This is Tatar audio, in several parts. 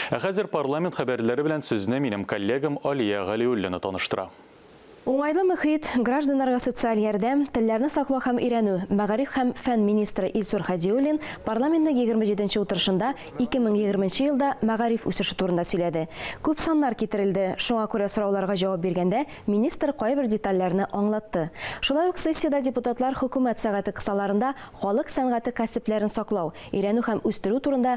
Ә хәзер парламент хәбәрләре белән сезне минем коллегам Алия Галиуллина таныштыра. Уңайлы мөхит, гражданнарга социаль ярдәм, телләрне саклау һәм өйрәнү, мәгариф һәм фән министры Илсур Һадиуллин парламентның егерме җиденче утырышында 2020 нче елда мәгариф үсеше турында сөйләде. Күп саннар китерелде, шуңа күрә сорауларга җавап биргәндә министр кайбер детальләрне аңлатты. Шулай ук сессиядә депутатлар Хөкүмәт сәгате кысаларында халык сәнгате кәсепләрен саклау, өйрәнү һәм үстерү турында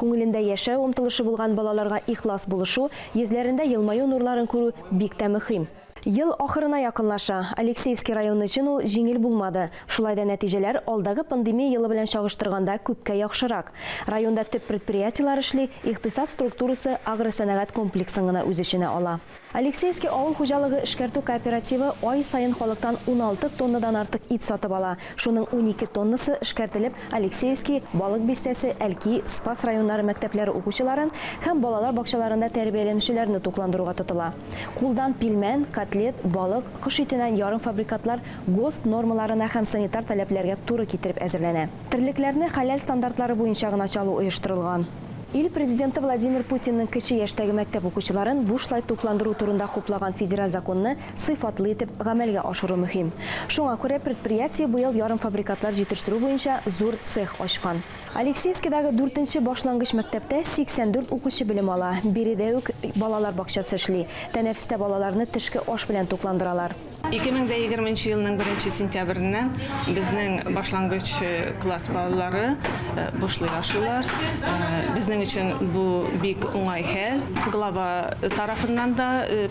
Күңелендә яшәү омтылышы булган балаларга ихлас булышу, йөзләрендә елмаю нурларын күрү бик тә мөхим. Ел ахырына якынлаша. Алексеевский районы өчен ул җиңел булмады. Шулай да нәтиҗәләр алдагы пандемия елы белән чагыштырганда күпкә яхшырак. Районда төп предприятиеләр эшли, икътисад структурасы агросәнәгать комплексын гына үз эченә ала. Алексеевский авыл хуҗалыгы эшкәртү кооперативы ай саен халыктан уналты тоннадан артык ит сатып ала. Шуның унике тоннасы эшкәртелеп Алексеевский, Балык Бистәсе, Әлки, Спас районнары мәктәпләре укучыларын һәм балалар бакчаларында тәрбияләнүчеләрне тукландыруга тотыла. Кулдан пилмән, котлет, балык, кош итенән ярымфабрикатлар ГОСТ нормаларына һәм санитар таләпләргә туры китереп әзерләнә. Терлекләрне хәләл стандартлары буенча гына чалу оештырылган. Ил Президенты Владимир Путинның кече яшьтәге мәктәп укучыларын бушлай тукландыру турында хуплаган федераль законны сыйфатлы итеп гамәлгә ашыру мөһим. Шуңа күрә предприятие быел ярымфабрикатлар җитештерү буенча зур цех ачкан. Алексеевскидагы дүртенче башлангыч мәктәптә 84 укучы белем ала, биредә үк балалар бакчасы эшли, тәнәфестә балаларны төшке аш белән тукландыралар. Ике мең дә егерме нче елның беренче сентябреннән безнең башлангыч класс балалары бушлай ашыйлар. Безнең өчен бу бик уңай хәл. Глава тарафыннан да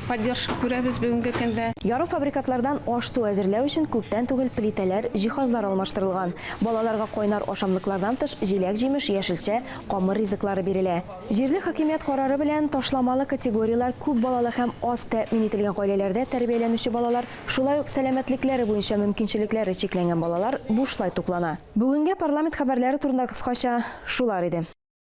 поддержка күрәбез бүгенге көндә. Ярымфабрикатлардан аш-су әзерләү өчен күптән түгел плитәләр, җиһазлар алмаштырылган. Балаларга кайнар ашамлыклардан тыш, җиләк-җимеш, яшелчә, камыр ризыклары бирелә. Җирле хакимият карары белән ташламалы категорияләр күп балалы һәм аз тәэмин ителгән гаиләләрдә тәрбияләнүче балалар, шулай ук сәламәтлекләре буенча мөмкинчелекләре чикләнгән балалар бушлай туклана. Бүгенгә парламент хәбәрләре турында кыскача шулар иде.